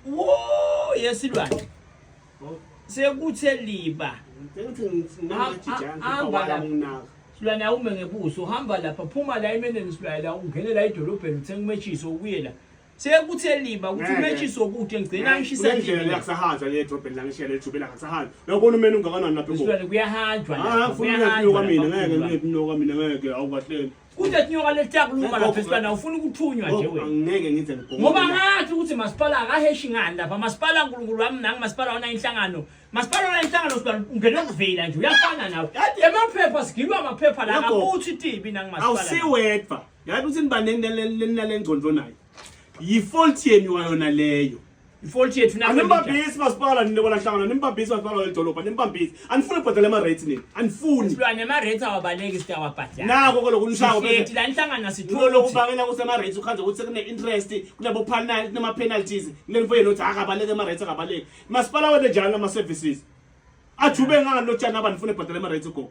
wo yesilwane sekuthe liba silwane awume ngebuso uhamba lapha phuma la emeneni silwane la ungene la edolobheni uthenga umetshiso ubuye la sekuthe liba ukuthi umetshiso okude ngigcina ngishisa indlela yakusahanjwa le edolobheni la ngishiyele ejubela ngasahanjwa uyabona umene ungakanani lapha kuyahanjwa lapha kuyahanjwa kwamina ngeke ngeke mina ngeke awukahleni Kude tinyoka letiyakuluma lapha esihlana ufuna ukuthunywa nje wena. Angeke ngize ngibhonge. Ngoba ngathi ukuthi masipala akaheshi ngani lapha masipala uNkulunkulu wami nangi masipala ona inhlangano. Masipala ona inhlangano sibala ungena ukuvela nje uyafana nawe. Emaphepha sigilwa amaphepha la akuthi tibi nangi masipala. Awusiwedwa. Yazi ukuthi nibanendelelelengcondvo nayo. Yifault yenu wayona leyo. ifault yethu nami animbambisi masipala nina bona hlangana nimbambisi masipala welidolobha nimbambisi anifuni ubhadala ama-rates nini anifuni silwane ama-rates awabaleki sitawabhadala nako kolo kunishawo Sihleti la nihlangana sithole ukuthi lokubangela ukuthi ama-rates ukhanze ukuthi sekune-interest kunabo-penal- kunama-penalties kule nifo yenu ukuthi akabaleki ama-rates akabaleki masipala wene njani ama-services ajube ngani lotshani abantu funa ebhadala ama-rates go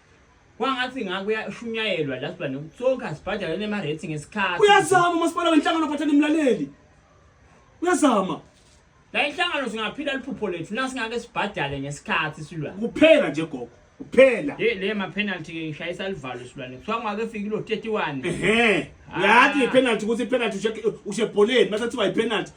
kwangathi ngaku uyashunyayelwa la sibane sonke asibhadale nema rating ngesikhathi uyazama umasipala wenhlangano ophathana imlaleli uyazama la inhlangano singaphila liphupho lethu la singake sibhadale ngesikhathi silwa kuphela nje gogo kuphela ye le ma penalty ke ngishayisa livalo silwane kuthiwa ngake fika lo 31 ehe yathi penalty ukuthi penalty ushe ushe bholeni mase kuthiwa i penalty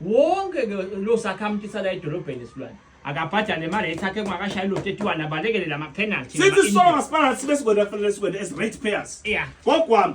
wonke ke lo sakhamuthi sala edolobheni esilwane akabhadale imali ayithathe kungakashayi lo 31 abalekele la ma-penalty sithi sisolo masipala sibe sikwenda kufanele sikwenda as rate payers yeah. gogwami